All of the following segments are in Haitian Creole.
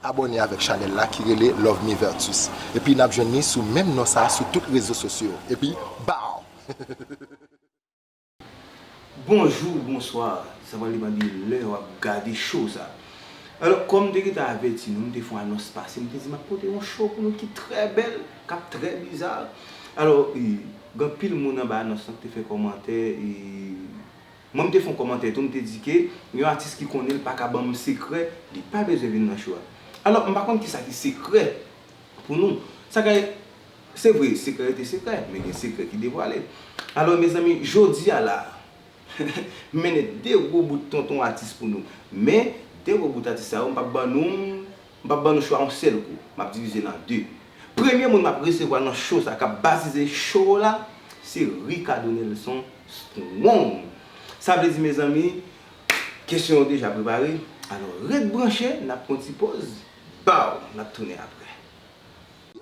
Abòne avèk chanèl la ki rele Lovemy Vertus epi nap jwenn li sou menm non sa sou tout rezo sosyo epi baww. Bonjour bonsoir sa va depan de lè wap gade show sa alors kòm m te gentan avèti nou m te fon anons pase m te di map pote yon show pou nou ki trè bèl. Kap trè biza. Alò e gan pil moun anba anons lan ki te fè kòmantè e mwen m te fon kòmantè tou m te di ke yon atis ki konnen l paka ban m sekrè li pa bezwen vin nan show a. Alò m pa konn kisa ki sekrè pou nou. Sa ka se vre sekrè rete sekrè men gen sekrè ki devwale. Alò mezanmi jodi a la m mennen 2 gwo bout tonton atis pou nou. Men 2 gwo bout atis sa yo m pap ban nou M pap ban nou chwa yon sèl kou, m ap divize l an 2. Premye moun m ap resevwa nan show sa k ap bazize show w la, se Ricardo Nelson Strong. Sa vle di mezanmi, kesyon yo deja prepare, alò ret branche, n ap pran yon ti poz, baww, n ap tounen aprè.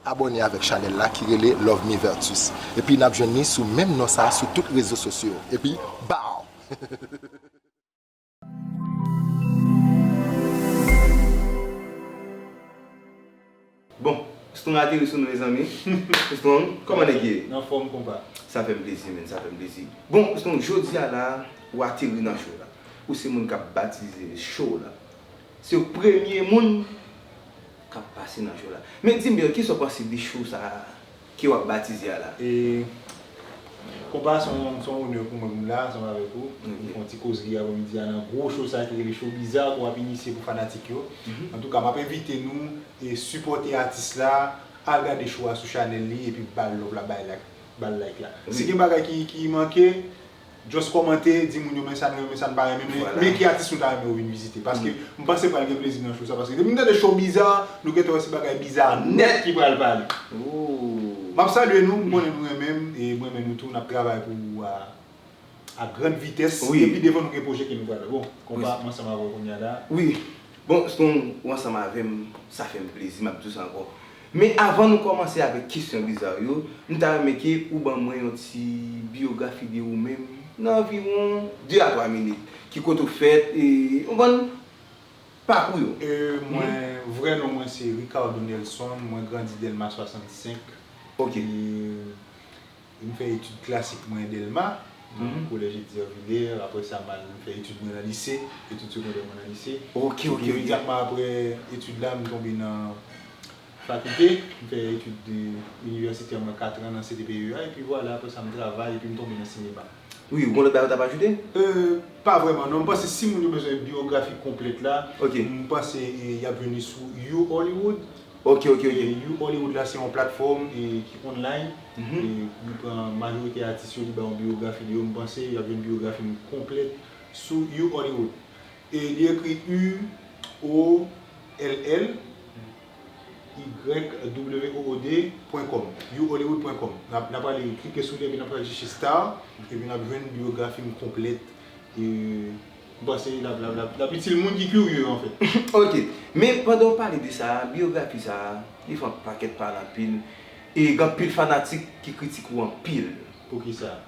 Abòne avèk chanèl la ki rele Lovemy Vertus epi n ap jwenn li sou menm non sa sou tout rezo sosyo epi baww! Bon, Strong ateri sou nou mezanmi. Strong, kòman nèg ye? Nan fòm konpa. Sa fè m plezi menn, sa fè m plezi. Bon, Strong, jodi a la, ou ateri nan show la. Ou se moun k ap batize show la. Se ou premye moun k ap pase nan show la. Men di m, Bill, kisa ou panse de show sa a? Ke wap batize a la. E Konpa son son onè pou mwen pou m la ansanm avèk ou pou n fè yon ti kozri avè midi a nan gwo show sa ki rele show bizarre ke wap inisye pou fanatik yo. Antouka map envite nou sipòte atis la al gade show a sou chanèl li epi bal love la bay like bal like la. Si gen bagay ki manke Just kòmante, di moun yo men sa nou renmen sa nou pa renmen men, men ki atis nou ta renmen yo vin vizite. Paske m panse pral gen plezi nan show sa paske depi m tande show biza, nou gentan wè se bagay biza nèt ki pral pale. M ap salye nou, m konnen nou renmen m e m renmen nou tou, n ap travay pou ak grand vitès e pi devan nou gen pwojè ke nou pral fè. Bon, konpa, m ansanm avè w kounya la. Wi, bon, s konn ou ansanm avè m, sa fè m plezi, m ap di w sa ankò. Men avan nou kòmanse avèk kesyon bizar yo, m ta renmen ke ou ban mwen yon ti biyografi de ou menm nan anviwon 2 a 3 minit, ki kote ou fèt e konprann, pakou yo. E mwen, vrè non mwen se Ricardo Nelson, mwen grandi Delma 65 e. Ok. M fè etid klasik mwen Delma, nan kolèj Etzer Vilers. Aprè sa, m al fè etid mwen nan lise, etid segondè mwen nan lise. Epi imedyatman aprè etid la, m tonbe nan fakilte. M fè etid inivèsitè mwen katran nan CTPEA. Epi vwala, aprè sa m travay epi m tonbe nan sinema. Wi, ou gen lòt bagay ou t ap ajoute? E, pa vrèman non. M panse si moun yo bezwen biyografi konplèt la, m panse y ap vini sou U Hollywood. Ok ok ok You Hollywood la se yon platfòm ki online li pran majorite atis yo li ba yon biyografi de yo m panse yap jwenn biyografi m konplèt sou You Hollywood e li ekri u o l l y w o o d pwen kòm You Hollywood pwen kòm nap ale klike sou li epi nap ale chèche star epi nap jwenn biyografi m konplèt e. M panse l ap itil moun ki kirye an fèt. Ok. Men pandan w pale de sa a, biyografi sa a, li fè yon pakèt pale anpil. E gen anpil fanatik ki kritike w anpil. Poukisa?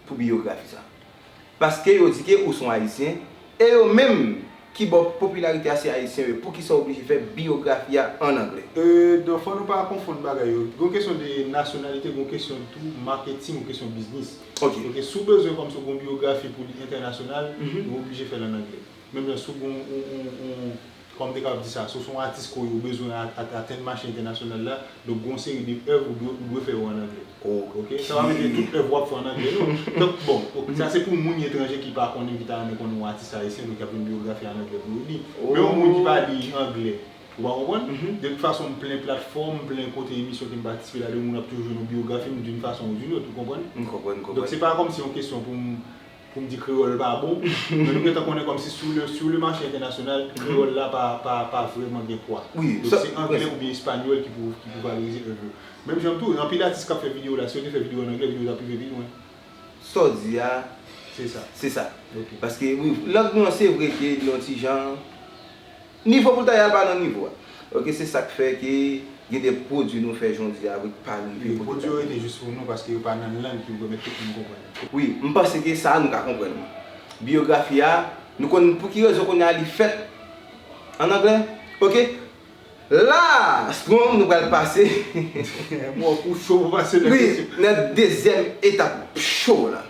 Pou biyografi sa a. Paske yo di ke ou son Ayisyen, e yo menm ki ba w popilarite a se Ayisyen yo, poukisa w oblije fè biyografi a an angle? Donk fò nou pa konfonn bagay yo. Gen yon kesyon de nasyonalite, gen yon kesyon tou maketing, yon kesyon biznis. Ok. Ok, si w bezwen kòm si w gen yon biyografi pou li entènasyonal, ou oblije fè l an angle. Menm jan si w gen yon, kòman m te kapab di sa, si w se yon atis kore ou bezwen atenn mache entènasyonal la, donk gen yon seri de èv ou dwe fè yo an angle. Ok. Sa pa vle di tout èv wap fè an angle non. Donk bon, sa se pou moun etranje ki pa konnen, ki ta renmen konnen yon atis ayisyen, donk y ap gen biyografi an angle pou yo li. Men yon moun ki pa li angle. Wa konprann? Mph. De tout fason m plen platfòm, m plen kote emisyon ke m patisipe ladan moun ap toujou jwenn yon biyografi m d'une façon ou d'une autre, ou konprann? M konprann, m konprann. Donk se pa kòmsi yon kesyon pou m, pou m di kreyòl pa bon, men nou gentan konnen kòmsi sou le, sou le mache entènasyonal, kreyòl la pa, pa, pa vrèman gen pwa. Wi, sa. Donk se angle oubyen espanyòl ki pou, ki pou valorize èv yo. Menm jan tou, anpil atis kap fè videyo la, si yo te fè videyo an angle, videyo tap rive pi lwen. Sa w di a. Se sa. Se sa. Ok. Paske, wi, lang nou an se vre ke li yon ti jan Nivo pou l ta ye a pa nan nivo a. Ok se sak fè ke gen de pwodwi nou fè jodi a wi k pa rive kote l ta ye. Wi pwodwi yo rete jis pou nou paske yo pa nan lang ki pou pèmèt tout moun konprann yo. Wi m panse ke sa a nou ka konprann li. Biyografi a nou konn pou ki rezon kounye a li fèt an anglè. Ok la a Strong nou pral pase Mwen wè w kou cho pou pase nan kesyon. Wi nan dezyèm etap cho w la.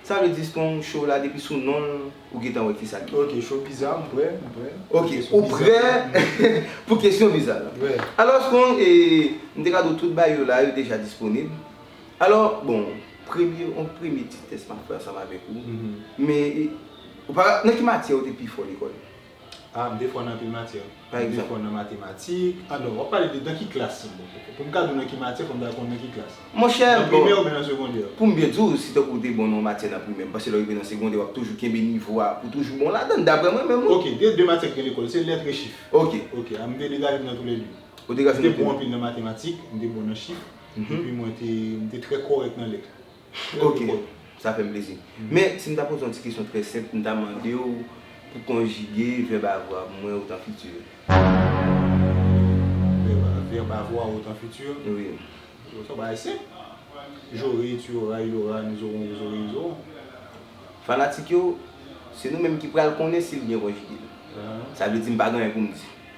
Sa vle di strong show la depi sou nonl ou gentan wè kisa li ye. Ok show visa m prè m prè. Ok ou prè pou kesyon visa la. Alò strong e m te ka di w tout bayo la yo deja disponib. Alò bon premye yon premye ti tès map fè ansanm avèk ou men ou pa nan ki matyè ou te pi fò lekòl? A, m te fò nan anpil matyè. Pa egzanp? M te fò nan matematik. Alò, w ap pale de nan ki klas, silvouplè? Pou m ka di w nan ki matyè, fò m ta konnen nan ki klas. Monchè, bon. Nan primè oubyen nan segondè? Pou m byen di w, si tankou w te bon nan yon matyè nan primè, m panse lè w rive nan segondè, w ap toujou kenbe nivo a pou w toujou bon ladan l, daprè mwen menm wi. Ok, gen de matyè ki gen lekòl, se lèt e chif. Ok. Ok, a m te degaje m nan toulède. Ou te degaje w nan toulède? M te bon anpil nan matematik, m te bon nan chif, epi mwen te, m te trè kòrèk nan lèt. Ok, sa fè m plezi. Men, si m ta poze yon ti kesyon trè senp, m ta mande w pou konjige vèb avwa pou mwen otan fiti. Vèb avwa otan fiti? Wi. Bon, se yon bagay senp. Jore, tu oras, il aura, nous aurons, vous aurez, ils auront. Fanatik yo, se nou menm ki pral konnen si l byen konjige. Sa vle di m pa gen anyen pou m di.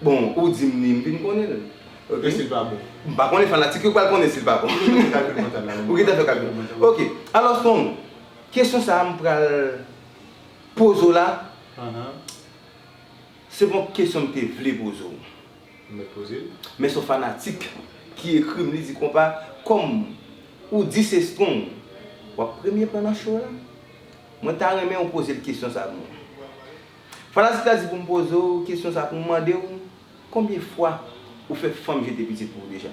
Bon ou dim li m vin konnen l. Ok sil pa bon. M pa konnen fanatik yo pral konnen sil pa bon. Ou gentan fè kalkil mantal. Ok alò strong kesyon sa m pral poze w la se pon kesyon m te vle poze w. Mèt poze l. Men son fanatik ki ekri m li di konpa kòm ou di se strong wap premye pran nan show la mwen ta renmen w poze l kesyon sa moun. Fanatik la di pou m poze w kesyon sa pou m mande w konbyen fwa ou fè fanm jete pitit pou ou deja?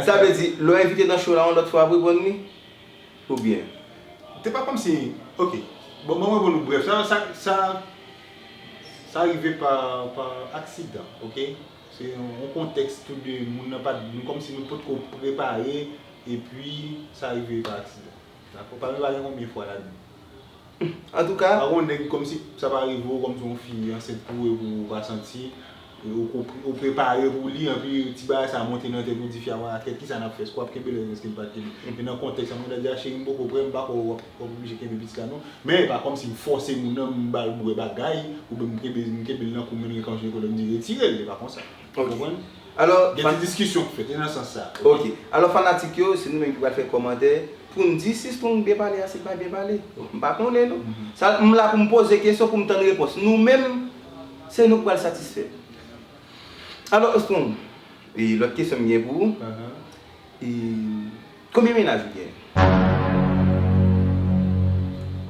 Sa vle di lè w envite nan show la yon lòt fwa ap reponn li? Ou byen. Se pa kòmsi. Ok. Bon mwen repon nou brèf. Sa sa sa sa rive pa pa aksidan ok. Se yon kontèks tou de moun nan pat nou kòmsi nou potko prepare epi sa rive pa aksidan. Dakò. Pami pa gen konbyen fwa la dan. Antouka. Pako yon nèg komsi sa pa rive w komsi yon fi ansent pou ou epi ou pa santi ou prepare pou li anpi ti bagay sa monte nan tèt ou di fi a wala tèt kisa nap fè eske wap kenbe lèzòt eskem pap kenbe e nan kontèks sa mwen ta di a cheri m poko prè m pako wap oblije kenbe pitit la non men epa komsi m fòse moun nan m bal bwè bagay oubyen m kenbe l nan kou m vin gen kòm si gen kolèm di retirel epa konsa. Ou konprann? Alò, fanatik. Gen ti diskisyon ki fèt, e nan sans sa. Ok. Alò fanatik yo, se nou menm ki pral fè kòmantè pou n di si Strong byen pale a, si l pa byen pale. M pa konnen non. Sa, m la pou m poze kesyon pou m tann repons. Nou menm, se nou k pral satisfè. Alò Strong, e lòt kesyon m gen pou ou, e konbyen mennaj ou genyen?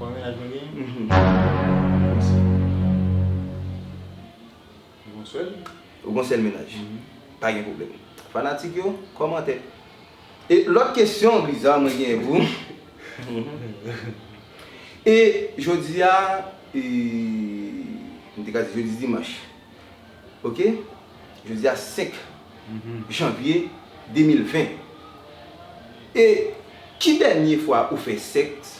Konbyen mennaj mwen genyen? Mhum. Ou gon sèl? Ou gon sèl mennaj? Pa gen pwoblèm. Fanatik yo, kòmante. E lòt kesyon biza mwen genyen pou ou. E jodi a, e, m te ka di jodi dimanch. Ok? Jodi a 5 janvye 2020. E ki dènye fwa ou fè sèks?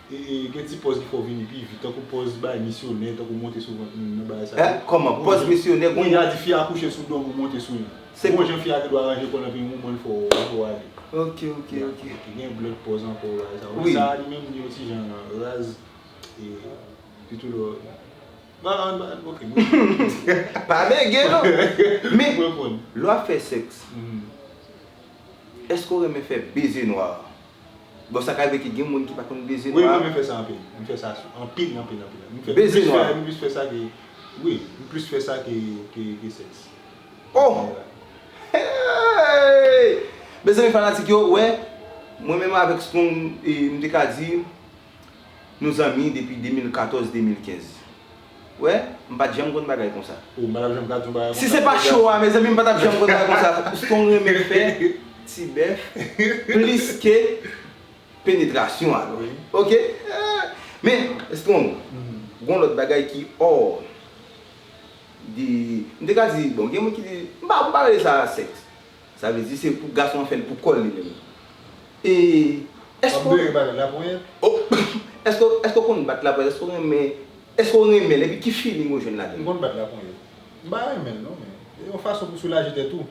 Gen ti pòz ki fè w vini pi vit, tankou pòz bay misyonè, tankou monte sou vant moun nan, bagay sa yo. Kòman? Pòz misyonè? Bon, y a di fi a kouche sou do moun, monte sou li. Se bon jan fi a te dwe aranje kò l anpi yon moman l fè w ale. Ok, ok, ok. Epi gen yon lòt pòz ankò, bagay sa yo. Men sa a li menm li yon ti jan raz e sitou lè w. Bon, an nou, ok, nou pran. Pa bege non! Men, lè w ap fè sèks, èske w renmen fè beze nwa a? Bon sa ka rive ke gen moun ki pa konn beze nwa. Wi mwen renmen fè sa anpil. M fè sa anpil anpil anpil. M fè beze nwa. M plis fè sa ke wi m plis fè sa ke ke sèks. Oh! Hey! Mezanmi fanatik yo wè mwen menm avèk Strong e m te ka di nou zanmi depi 2014 2015. Wè, m pat janm konn bagay konsa. Oh madam janm ka di yon bagay konsa. Si se pa show a mezanmi m pa tap janm konn bagay konsa pskew renmen fè ti bèf plis ke penetrasyon a wi ok men strong gon lòt bagay ki hors de m te ka di bon gen moun ki di m pa rele sa sèks. Sa vle di se pou gason an fè li pou kòl li menm. E èske w Èske w konn bat laponyèt? Èske w renmen Èske w renmen l epi ki feeling ou jwenn ladan l? M konn bat laponyèt. M pa renmen l non men se yon fason pou soulaje tèt ou.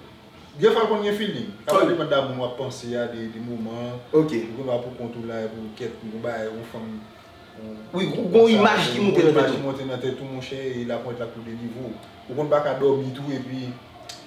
Gen fwa l konn gen feeling. Sa va depann da moun w ap panse a, de moman an. Ou gen dwa pou kont ou la epi w kèt yon bagay yon fanm Wi ou gon imaj ki monte nan tèt ou. Yon imaj ki monte nan tèt ou monchè e laponyèt la pou delivre w. Ou konn pa ka dòmi tou epi.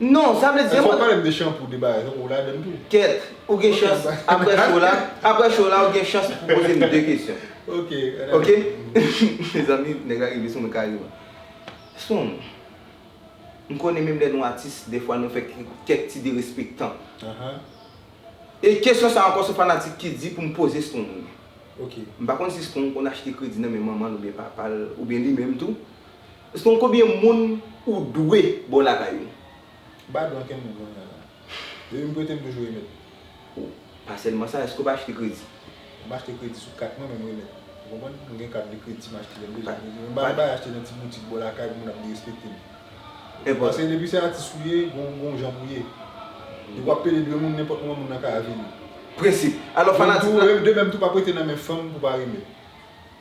Non, sa vle di Fòk pale m de shampoo de bagay non, ou ladann tou. Kèt, ou gen chans aprè show la, aprè show la ou gen chans pou poze m 2 kesyon. Ok, an ale. Ok? Mezanmi, nèg la rive sou mwen kareman. Soon, m konnen menm lè nou atis dè fwa nou fè kèk ti derespektan. E kesyon sa ankò se fanatik ki di pou m poze Soon li. Ok. M pa konn si Soon konn achte kredi nan men manman l oubyen papa l oubyen li menm tou. Stone konbyen moun ou dwe bon lakay ou. Ba don kenn moun kounye a la. Depi m prete m toujou remèt. Ou pa sèlman sa eske ou pa achte kredi. M achte kredi sou kat mwen men m remèt. Ou konprann? M gen kat de kredi m achte lè m bezwen kredi. Men m pa bay achte nan ti boutik bò lakay pou moun ap derespekte m. Paske depi se atis ou ye gon jan pou ye. Depi w ap pede dwe moun nenpòt moman moun nan ka avili. Prensip. Alò fanatik la. De menm tou pa prete nan men fanm pou pa remèt.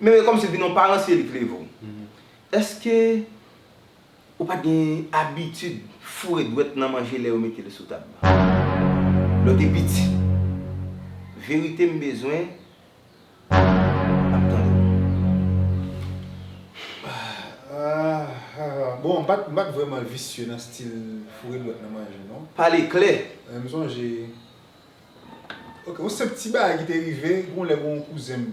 Men yo kòmsi vin yon paran si Elik leve w. Èske ou pa t gen abitid foure dwèt nan manje lè yo mete l sou tab? Lè w te piti? Verite m bezwen ap tande w. Bon, m pa t m pa t vrèman visye nan stil foure dwèt nan manje non. Pale klè! Men m sonje. Ok, yon senp ti bagay ki te rive, gen yon lè gen yon kouzen m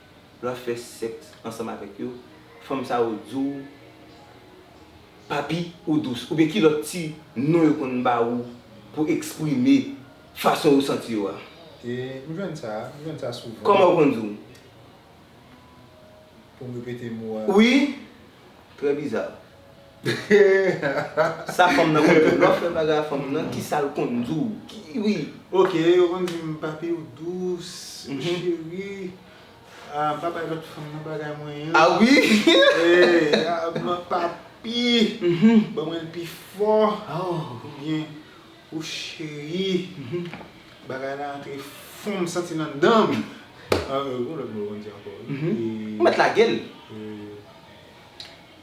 lè wap fè sèks ansanm avèk yo, fanm sa yo di w Papi ou dous oubyen ki lòt ti non yo konn ba ou pou eksprime fason yo santi yo a? E, m jwenn sa, m jwenn sa souvan. Kòman yo konn di w? Pou m repete mo a. Wi! Trè biza. Sa fanm nan konn diw lè w fè bagay a fanm nan kisal konn diw ui. Ok yo konn dim papi ou dous ou cheri ahh pa bay lòt fanm nan bagay mwen an ah ui ahh papi ban mwen l pi fò oubyen ou cheri bagay la antre fon m santi l anndan m ahh gon lòt mo yo konn di ankò wi ou mèt lage l.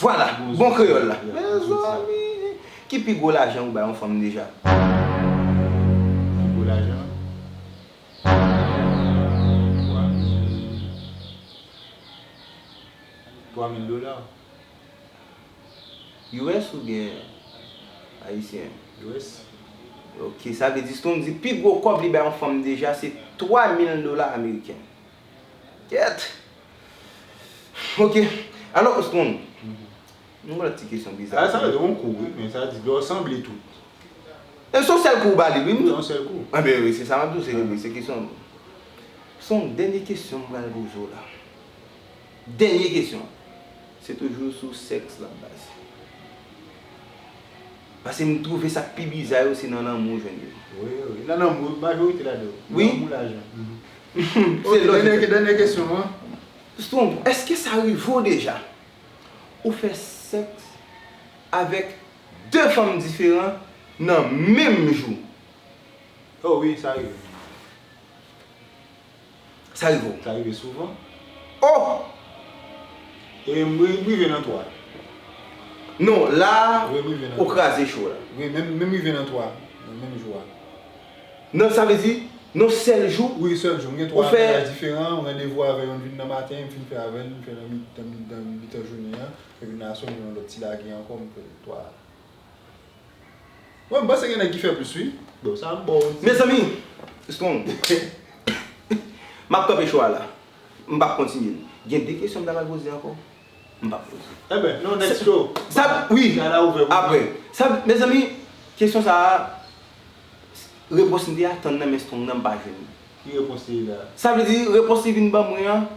Vwala! Bon kreyòl la! Mezanmi! Ki pi gwo lajan ou bay yon fanm deja? Pi gwo lajan? Twa mil. Twa mil dola. US oubyen ayisyen? US. Ok, sa vle di Strong di pi gwo kòb li bay yon fanm deja se twa mil dola ameriken. Kèt! Ok, alò ou ston. Yon lòt ti kesyon biza. Sa se yon kou wi, men sa di yo sanble tout. E son sèl kou ou ba li wi. Yon sèl kou. Anben wi, se sa map di w se li wi, se kesyon. Son dènye kesyon m pral poze w la. Dènye kesyon. Se toujou sou sèks lap baze. Pase m twouve sak pi biza yo se nan lanmou ou jwenn yo. Wi wi, nan lanmou majorite ladan yo. Wi. Lanmou lajan. Ok, dènyè kesyon an. Strong, èske sa rive w deja ou fè sèks avèk 2 fanm diferan nan menm jou? Oh wi, sa rive. Sa rive w? Sa rive souvan. Oh! E m rive nan 3. Non, la ou kraze cho la. Wi, menm rive nan 3 nan menm jou a. Nan sa vle di non sèl jou. Wi yon sèl jou. M gen 3 mennaj diferan, m randevou avè youn, m vin nan maten, m fin fè avè l, m fè nan mitan jounen an, epi nan aswè m gen yon lòt ti lage ankò m fè 3. Bon m panse gen nèg ki fè plis wi. Bon sa m ba w. Mezanmi! Strong. M ap kanpe cho a la. M p ap kontinye l. Gen 2 kesyon m ta pral poze ankò. M pap fouti. Enben, non nèg cho. Sa wi, aprè. Sa mezanmi, kesyon sa a, repons m te atann nan men Strong nan m pa jwenn li. Ki repons li ye la? Sa vle di, repons li vin ban mwen an,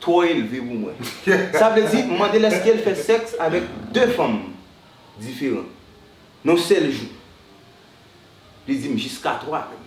twò elve pou mwen. Sa vle di, m mande l èske l fè sèks avèk 2 fanm diferan, nan yon sèl jou. Li di m jiska 3 menm.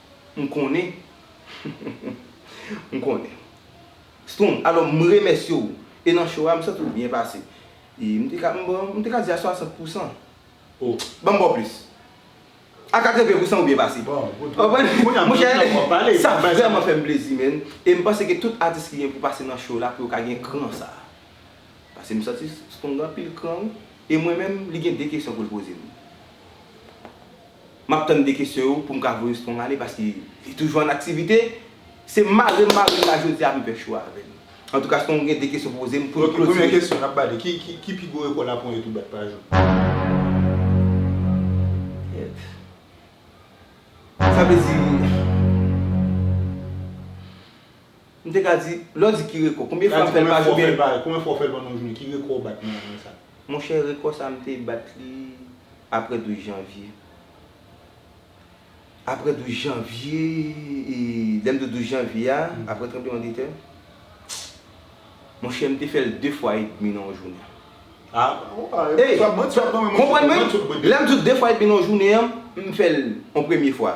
M konnen. M konnen. Strong, alò m remèsye w. E nan show a, m santi w byen pase. E m te ka, m bon, m te ka di a 60 pou 100. O! Ban m ba w plis. A 80 pou 100 ou byen pase. Bon, good. Ou konprann? Kounya m gen tan pou m pale. Sa vrèman fè m plezi, man. E m panse ke tout atis ki gen pou pase nan show la pou yo ka gen kran sa a. Pase m santi Strong gen anpil kran wi. E mwen menm, li gen 2 kesyon pou l poze m. Map tann 2 kesyon yo poum ka voye strong ale paske li toujou an aktivite Se marem marem la jodia m fè chwa avèl Antouka strong gen 2 kesyon pou pozem poun klotire. Ok premyè kesyon nap bale ki pi gwo rekò lapon etou bat pa jou? Kèt Sa vle di. M te ka di, lè w di ki rekò, konbyen fwa m fè l pa jou byen? Konbyen fwa w fè l pandan yon jounen? Ki rekò w bat nan jounen sa? Monchè, rekò sa m te bat li aprè 12 janvye. Aprè 12 janvye, e lè m di w 12 janvye a, aprè tranbleman de tè, monchè m te fè l 2 fwa edmi nan yon jounen. A! Ey! Konprann mwen, lè m di w 2 fwa edmi nan yon jounen an, m fè l yon premye fwa.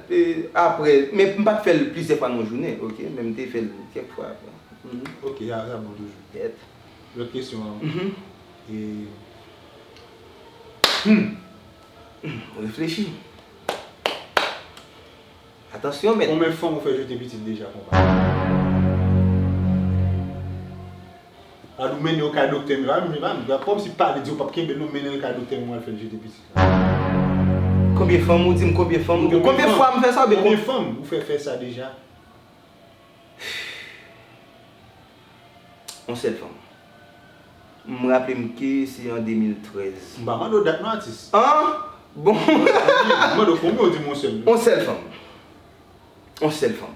Aprè, men m pat fèl plizyè fwa nan yon jounen ok, men m te fèl kèk fwa aprè. Ok sa sa bon toujou. Yep. Lòt kesyon an e. Humm m reflechi. Atansyon mèt. Konbyen fanm ou fè jete pitit deja konpa? Al ou mennen yo kay doktè men pa menm jan pam nan kòmsi pale diw pap kenbel non mennenl kay doktè menm wal fèl jete pitit la. Konbyen fanm ou dim konbyen fanm ou gen konbyen fwa m fè sa ou byen konbyen fanm ou fè fè sa deja. On sèl fanm. M raplem ke se an 2013. M pa mande w dat non atis. An! Bon. M mande w konbyen ou dim on sèl. On sèl fanm. On sèl fanm.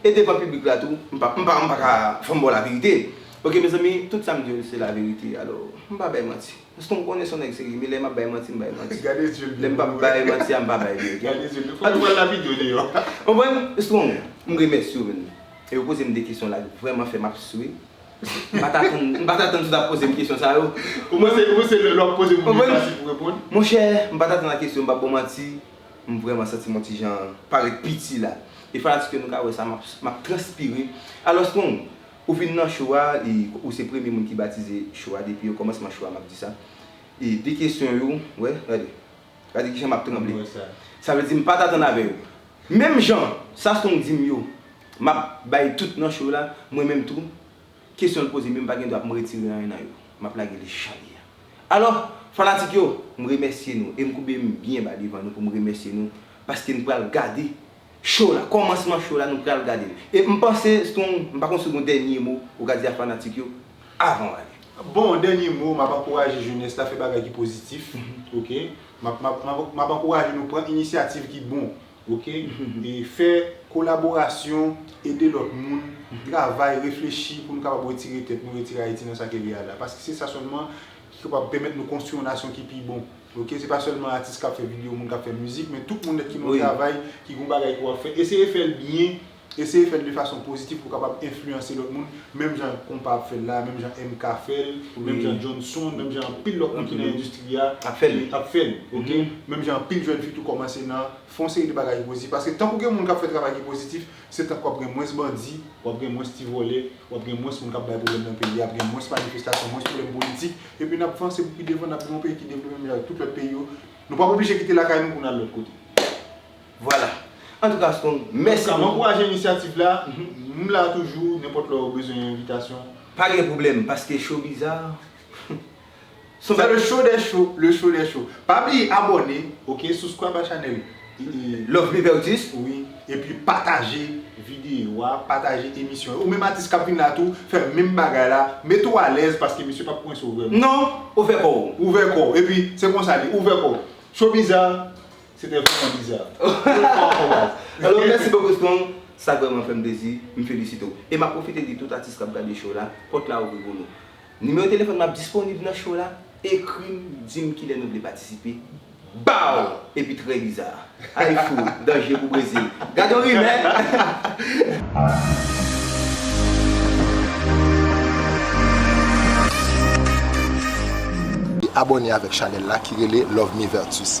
E devan piblik la tou m pa m pa m pa ka fòm baw laverite ok mezanmi tout sam diw se laverite alò m pa bay manti paskem m konnen son nèg serye men lè map bay manti m bay manti lèm pap bay manti a m pa bay vre ok konprann strong m remèsyew menn e ou pozem de kesyon la ki vrèman fèm ap swe m pat atann m pat atann si w tap pozem kesyon sa yo ou panse lè wap pozem kesyon sa se pou reponn monchè m pat atann a kesyon m pap baw manti. M vrèman santi m yon ti jan parèt piti la. E fanatik yo nou ka wè sa m ap transpire. Alòs Kong, ou vin nan show a e ou se premye moun ki batize show a depi okòmansman show a m ap di sa. E de kesyon yo, wè, gade. Gade kijan m ap tranble. Sa vle di m pa t atann avè yo. Menm jan sa Strong di m yo, m ap bay tout nan show la, mwen menm tou. Kesyon l poze menm pa gen dwa pou m retire anyen nan yo. M ap lage li jan li ye a. Alò, fanatik yo, m remèsye nou e m koube m byen ba devan nou pou m remèsye nou paske n pral gade show la. Kòmansman show la nou pral gade l. E m panse Strong, m pa konn si w gen yon dènye mo ou ka di a fanatik yo avan w ale. Bon, dènye mo, m ap ankouraje jenès la fè bagay ki pozitif, ok. M ap ankouraje nou pran inisyativ ki bon. Ok e fè kolaborasyon ede lòt moun travay reflechi pou nou kapab retire tèt nou retire ayiti nan sa ke li a la paske se sa sèlman ki kapab pèmèt nou konstwi yon nasyon ki pi bon ok se pa sèlman atis kap fè video moun kap fè mizik men tout moun nèt ki nan travay ki gon bagay ke wap fè eseye fèl byen Eseye fè l de fason pozitif pou w kapab enfliyanse lòt moun, menm jan Konpa ap fè l la a, menm jan MK fè l, menm jan Jhonson, menm jan anpil lòt moun ki nan endistri a ap fè l, ok? Menm jan anpil jèn fi tou kòmanse nan fè yon seri de bagay ki pozitif. Paske tank ou gen moun k ap fè travay ki pozitif, se tank w ap gen mwens bandi, w ap gen mwens ti vòlè, w ap gen mwens moun k ap bay pwoblèm nan peyi a, ap gen mwens manifestasyon, mwens pwoblèm politik, epi n ap vanse pou pi devan, n ap gen yon peyi ki devlope menm jan ak tout lòt peyi yo. Nou p ap oblije kite lakay nou pou n al lòt kote. Vwala. Antouka Strong, mèsi anpil. Antouka, m ankouraje inisyativ la. M la toujou, nenpòt lè ou bezwen yon envitasyon. Pa gen pwoblèm, paske Show Bizarre son bagay. Se le show des shows, le show des shows. Pa bliye abòne, ok, subscribe a chanèl Love Me Vertus. Wi, epi pataje videyo a, pataje emisyon yo. Ou menm atis k ap vin la tou, fè menm bagay la. Mete ou alèz, paske misye p ap kwense ou vrèman. Non, ouvè kò ou. Ouvè kò ou. Epi, se konsa l ye, ouvè kò ou. Show Bizarre. Se te vreman biza. Alò mèsi bokou Strong, sa vreman fèm plezi, m felisite w. E map pwofite di tout atis kap gade show la, pòt la ouvri pou nou. Nimewo telefòn mwen ap disponib nan show la, ekri m, di m kilè nou vle patisipe, baww! Epi trè biza. Annik fou, danje pou Brezil. Gad yon rimè! Abòne avèk chanèl la ki rele Love Me Vertus.